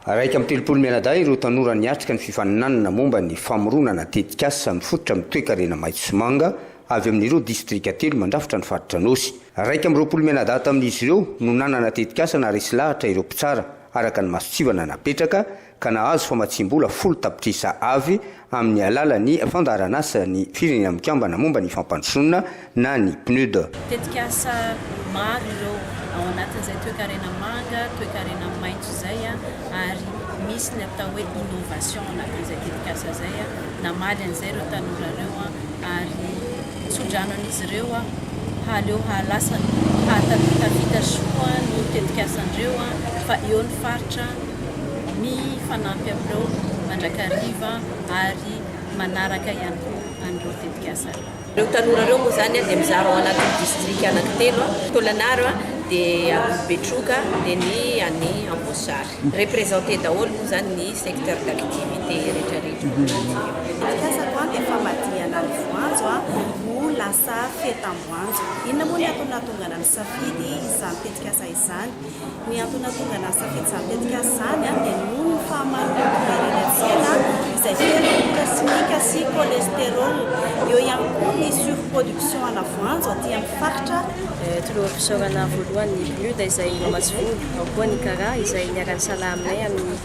Iraika amby telopolo mianadahy ireo tanora niatrika ny fifaninanana momba ny famoronana tetikasa mifototra amin'ny toekarena maitso sy manga avy amin'ireo distrika telo mandrafitra ny faritra Anôsy. Iraika amby roapolo mianadahy tamin'izy ireo no nanana tetikasa naharesy lahatra ireo mpitsara araka ny mason-tsivana napetraka ka nahazo famatsiam-bola folo tapitrisa Av amin'ny alalan'ny Fandaharanasan'ny Firenena Mikambana momba ny Fampandrosoana na ny PNUD. Tetikasa maro ireo, ao anatin'izay toekarena manga, toekarena maitso izay ary misy ny atao hoe innovation ao anatin'izay tetikasa izay. Namaly an'izay ireo tanora ireo ary tso-drano an'izy ireo hahaleo hahalasa ny hahatafitafita soa ny tetikasandreo fa eo ny faritra. ny hifanampy amin'ireo mandrakariva ary manaraka ihany koa an'ireo tetikasa ireo. Ireo tanora ireo moa izany dia mizara ao anatin'ny distrika anankitelo, Tôlanaro, dia Betroka, dia ny any Amboasary. Representer daholo moa izany ny secteur d'activité rehetrarehetra ao anatin'io. Ny tetikasako dia famadihana ny voanjo ho lasa fetam-boanjo. Inona moa ny antony nahatonga anà nisafidy izany tetikasa izany? Ny antony nahatonga ny nahasafidy izany tetikasa izany dia noho ny fahamaroan'ny olona ireny an-tsena izay feno loka simika sy cholestérol. Eo ihany koa ny surproduction ana voanjo aty amin'ny faritra. Toloha fisaorana voalohany ny Bluda izay mamatsy vola, ao koa ny Kara izay niara-nisalahy aminay amin'ny.